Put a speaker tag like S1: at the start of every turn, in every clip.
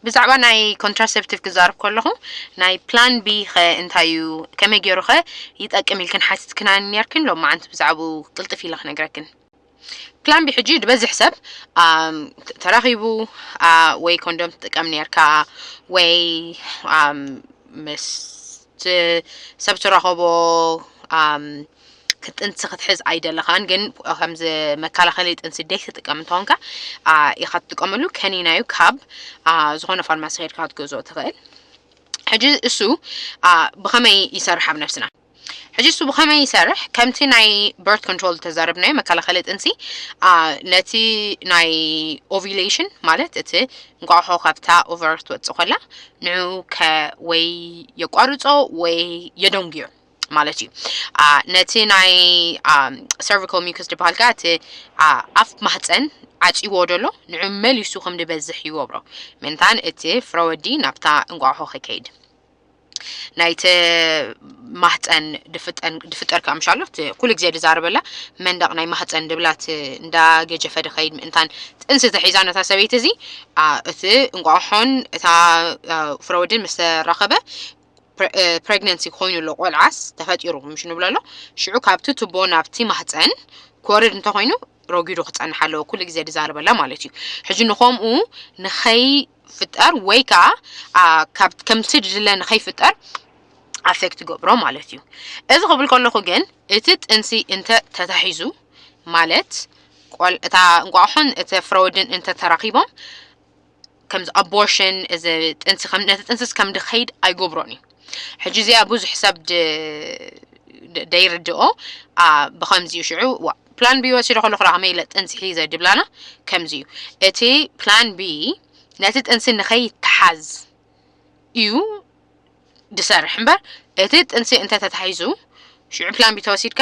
S1: ብዛዕባ ናይ ኮንትራሴፕቲቭ ክዛርብ ከለኹ ናይ ፕላን ቢ ኸ እንታይ እዩ ከመይ ገይሩ ኸ ይጠቅም ኢልክን ሓቲትክና ነርክን ሎ መዓንቲ ብዛዕባኡ ቅልጥፍ ኢለ ክነግረክን ፕላን ቢ ሕጂ ዝበዝሕ ሰብ ተራኺቡ ወይ ኮንዶም ትጥቀም ነርካ ወይ ምስ ሰብ ትራኸቦ ጥንሲ ክትሕዝ ኣይደለኻን ግን ከምዚ መከላኸሊ ጥንሲ ደይ ትጥቀም እንተኾንካ ኢኻ ትጥቀመሉ ከኒና እዩ ካብ ዝኾነ ፋርማሲ ከድካ ክትገዝኦ ትኽእል ሕጂ እሱ ብኸመይ ይሰርሕ ኣብ ነብስና ሕጂ እሱ ብኸመይ ይሰርሕ ከምቲ ናይ በርት ኮንትሮል ዝተዛረብናዮ መከላኸሊ ጥንሲ ነቲ ናይ ኦቪሌሽን ማለት እቲ እንቋቑሖ ካብታ ኦቨር ክትወጽእ ኮላ ንዕኡ ከ ወይ የቋርጾ ወይ የደንጉዮ ማለት እዩ አ፣ ነቲ ናይ ሰርቪካል ሚውከስ ዝበሃል ከኣ እቲ አ፣ ኣፍ ማህፀን ዓጽይዎ ደሎ ንዕኡ መሊሱ ከም ዝበዝሕ ይገብሮ ምእንታን እቲ ፍረወዲ ናብታ እንቋቑሖ ከይከይድ ናይቲ ማህፀን ድፍጠር ክኣ ምሻሎ ኩሉ ግዜ ድዛረበላ መንደቕ ናይ ማህፀን ድብላት እንዳ ገጀፈ ድኸይድ ምእንታን ጥንሲ ተሒዛ ነታ ሰበይቲ እዚ እቲ እንቋቑሖን እታ ፍረወድን ምስ ተራኸበ ፕሬግነንሲ ኮይኑ ኣሎ ቆልዓስ ተፈጢሩ ምሽ ንብሎ ኣሎ ሽዑ ካብቲ ቱቦ ናብቲ ማህፀን ክወርድ እንተኮይኑ ረጒዱ ክፀንሕ ኣለዎ ኩሉ ግዜ ድዛረበላ ማለት እዩ ሕጂ ንከምኡ ንኸይ ፍጠር ወይ ከዓ ከምቲ ድለ ንኸይፍጠር ኣፌክት ገብሮ ማለት እዩ እዚ ክብል ከለኹ ግን እቲ ጥንሲ እንተ ተታሒዙ ማለት ቆል እታ እንቋቑሖን እቲ ፍረወድን እንተ ተራኺቦም ከምዚ ኣቦርሽን እዚ ጥንሲ ከም ነቲ ጥንስስ ከም ድኸይድ ኣይገብሮን እዩ ሕጂ እዚኣ ብዙሕ ሰብ ደይርድኦ ብኸምዚ እዩ ሽዑ ፕላን ቢ ወሲዶ ከለኹ ከመይ ኢለ ጥንሲ ሒዘ ድብላና ከምዚ እዩ እቲ ፕላን ቢ ነቲ ጥንሲ ንኸይተሓዝ እዩ ድሰርሕ እምበር እቲ ጥንሲ እንተተታሒዙ ሽዑ ፕላን ቢ ተወሲድካ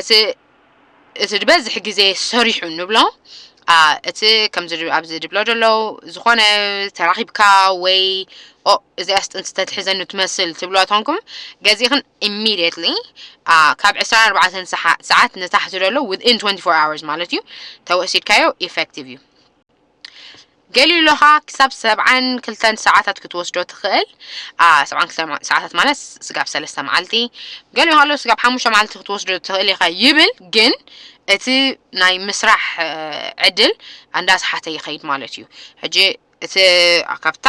S1: እቲ እቲ ዝበዝሕ ግዜ ሰሪሑ ንብሎ ኣ፣ እቲ ከምዚ ድ- ኣብዚ ድብሎ ደሎ ዝኾነ ተራኺብካ ወይ ኦ እዚኣስ ጥንሲ ተትሕዘኒ ትመስል ትብሎ ተንኩም ገዚእኽን ኢሚድየትሊ ካብ 24 ሰሓ- ሰዓት ንታሕቲ ደሎ within 24 hours ማለት እዩ ተወሲድካዮ ኢፌክቲቭ እዩ። ገሊሎኻ ክሳብ ሰብዓን ክልተን ሰዓታት ክትወስዶ ትኽእል ሰብዓን ክልተ ሰዓታት ማለት ስጋብ ሰለስተ መዓልቲ ገሊ ከሎ ስጋብ ሓሙሽተ መዓልቲ ክትወስዶ ትኽእል ኢኻ ይብል ግን እቲ ናይ ምስራሕ ዕድል እንዳስሓተ ይኸይድ ማለት እዩ ሕጂ እቲ ካብታ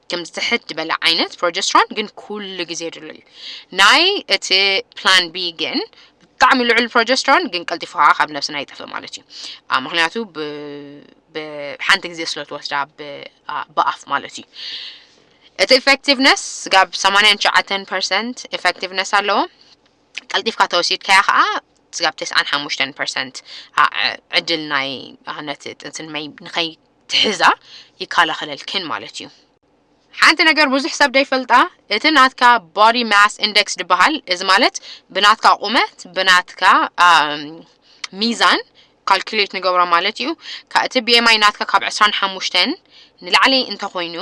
S1: ከምዚ ትሕት ዝበለ ዓይነት ፕሮጀስትሮን ግን ኩሉ ግዜ ድሉ እዩ ናይ እቲ ፕላን ቢ ግን ብጣዕሚ ልዑል ፕሮጀስትሮን ግን ቀልጢፉ ከዓ ካብ ነብስና ይጠፍእ ማለት እዩ አ፣ ምክንያቱ ብ- ብሓንቲ ግዜ ስለ ትወስዳ ብ- አ፣ ብኣፍ ማለት እዩ እቲ ኢፌክቲቭነስ ጋብ 89 ፐርሰንት ኢፌክቲቭነስ ኣለዎ ቀልጢፍካ ተወሲድካያ ከዓ ስጋብ 95 ፐርሰንት ዕድል ናይ አ፣ ነቲ ጥንሲ ንመይ- ንኸይ ትሕዛ ይካላኸለልክን ማለት እዩ። ሓንቲ ነገር ብዙሕ ሰብ ደይፈልጣ እቲ ናትካ body mass index ድበሃል እዚ ማለት ብናትካ ቁመት ብናትካ ሚዛን ካልኩሌት ንገብሮ ማለት እዩ ካ እቲ BMI ናትካ ካብ 25 ንላዕሊ እንተኾይኑ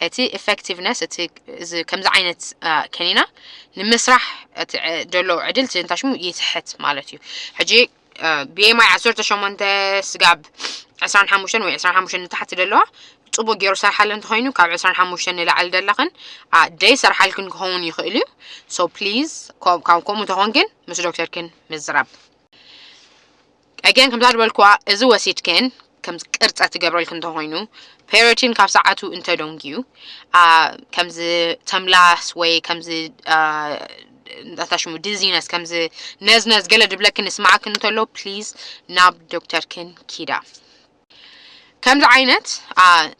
S1: እቲ ኢፌክቲቭነስ እቲ እዚ ከምዚ ዓይነት ከኒና ንምስራሕ እቲ ደሎ ዕድል ትንታሽሙ ይትሕት ማለት እዩ ሕጂ ብኤምኣይ ዓሰርተ ሸሞንተ ስጋብ ዕስራን ሓሙሽተን ወይ ዕስራን ሓሙሽተን ንታሕቲ ዘለዋ ፅቡቅ ገይሩ ሰርሓለን ተኮይኑ ካብ ዕስራን ሓሙሽተን ንላዕሊ ዘለኽን ደይ ሰርሓልክን ክኸውን ይኽእል እዩ ሶ ፕሊዝ ካብ ከምኡ ተኾንክን ምስ ዶክተርክን ምዝራብ ኣገን ከምዛ ዝበልክዋ እዚ ወሲድክን ከምዚ ቅርጸ ትገብረልክ እንተኾይኑ ፔሪቲን ካብ ሰዓቱ እንተደንጊዩ ከምዚ ተምላስ ወይ ከምዚ እንታይ ሽሙ ዲዚነስ ከምዚ ነዝነዝ ገለ ድብለክን ንስማዓክ እንተሎ ፕሊዝ ናብ ዶክተርክን ኪዳ ከምዚ ዓይነት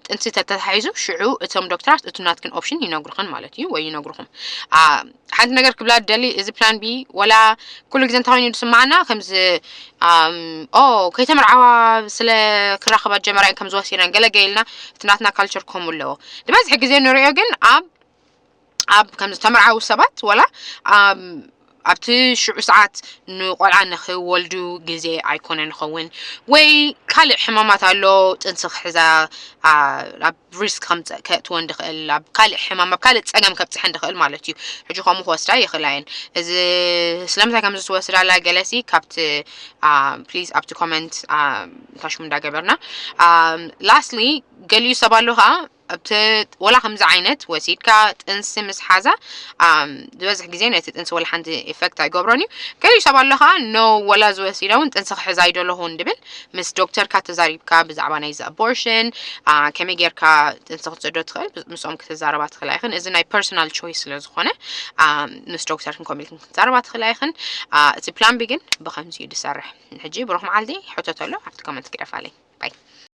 S1: ጥንሲ ተተታሒዙ ሽዑ እቶም ዶክተራት እቲ ናትክን ኦፕሽን ይነግሩኽን ማለት እዩ ወይ ይነግሩኹም ሓንቲ ነገር ክብላ ደሊ እዚ ፕላን ቢ ወላ ኩሉ ግዜ እንተኮይኑ ዝስማዓና ከምዚ ኦ ከይተመርዓዋ ስለ ክራኸባ ጀመራ እየን ከም ዝወሲነን ገለ ገይልና እቲ ናትና ካልቸር ከምኡ ኣለዎ ዝበዝሐ ግዜ ንሪኦ ግን ኣብ ኣብ ከም ዝተመርዓዉ ሰባት ወላ ኣብቲ ሽዑ ሰዓት ንቆልዓ ንክወልዱ ግዜ ኣይኮነን ይኸውን ወይ ካልእ ሕማማት ኣሎ ጥንሲ ክሕዛ ኣብ ሪስክ ከምጽእ ከእትወን ድኽእል ኣብ ካልእ ሕማም ኣብ ካልእ ጸገም ከብጽሐን ድኽእል ማለት እዩ ሕጂ ከምኡ ክወስዳ ይኽእላ እየን እዚ ስለምንታይ ከም ዝወስዳላ ገለሲ ካብቲ ፕሊዝ ኣብቲ ኮመንት ታሽሙ እንዳገበርና ላስትሊ ገሊኡ ሰብ ኣሎ ከዓ ኣብቲ ወላ ከምዚ ዓይነት ወሲድካ ጥንሲ ምስ ሓዛ ዝበዝሕ ግዜ ነቲ ጥንሲ ወላ ሓንቲ ኢፌክት ኣይገብሮን እዩ ገሊኡ ሰብ ኣሎ ከዓ ኖ ወላ ዝወሲዳ እውን ጥንሲ ክሕዛ ኣይደለኹን ድብል ምስ ዶክተርካ ተዛሪብካ ብዛዕባ ናይዚ ኣቦርሽን ከመይ ጌርካ ጥንሲ ክትፅዶ ትኽእል ምስኦም ክትዛረባ ትኽእላ ኢኽን እዚ ናይ ፐርሶናል ቾይስ ስለ ዝኾነ ምስ ዶክተርክን ከምኡ ኢልክን ክትዛረባ ትኽእላ ኢኽን እቲ ፕላን ቢ ግን ብኸምዚ እዩ ዝሰርሕ ሕጂ ብሩኽ መዓልቲ ሕተተሉ ኣብቲ ኮመንት ግደፋለይ ባይ